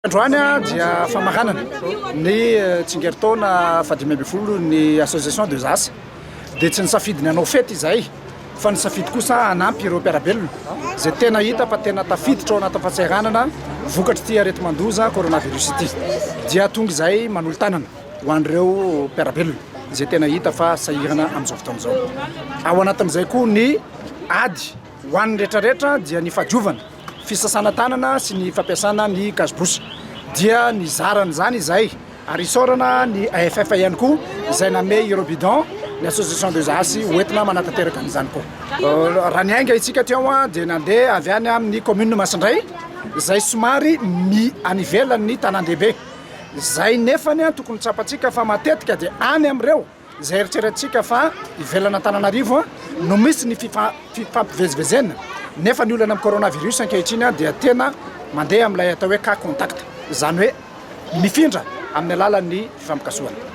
Androany dia famaranana ny eh, tsingeritaona fahadimy ambin'ny folo ny association de Zas dia tsy nisafidy ny hanao fety izay fa ny safidy kosa hanampy ireo mpiarabelona izay tena hita fa tena tafiditra ao anaty fahasahiranana vokatry ity areti-mandoza coronavirus ity dia tonga izay manolo tanana ho an'ireo mpiara-belona izay tena hita fa sahirana amin'izao fotoana izao. Ao anatin'izay koa ny ady ho an'ny rehetrarehetra dia ny fadiovana, fisasana tanana sy ny fampiasana ny gazbouche dia ny zaran'izany izay ary isaorana ny AFF ihany koa izay name ireo bidon ny association des ASI hoentina manatanteraka an'izany koa. Euh, raha niainga itsika teo dia nandeha avy any amin'ny commune Masindray izay somary mi any ivelan'ny tanàn-dehibe Izay nefany an tokony tsapantsika fa matetika dia any amin'ireo izay eritreretintsika fa ivelan'Antananarivo no misy ny fifampivezivezena nefa ny olana amin'ny coronavirus ankehitriny an dia tena mandeha amin'ilay atao hoe cas contact izany hoe mifindra amin'ny alalan'ny fifampikasohana.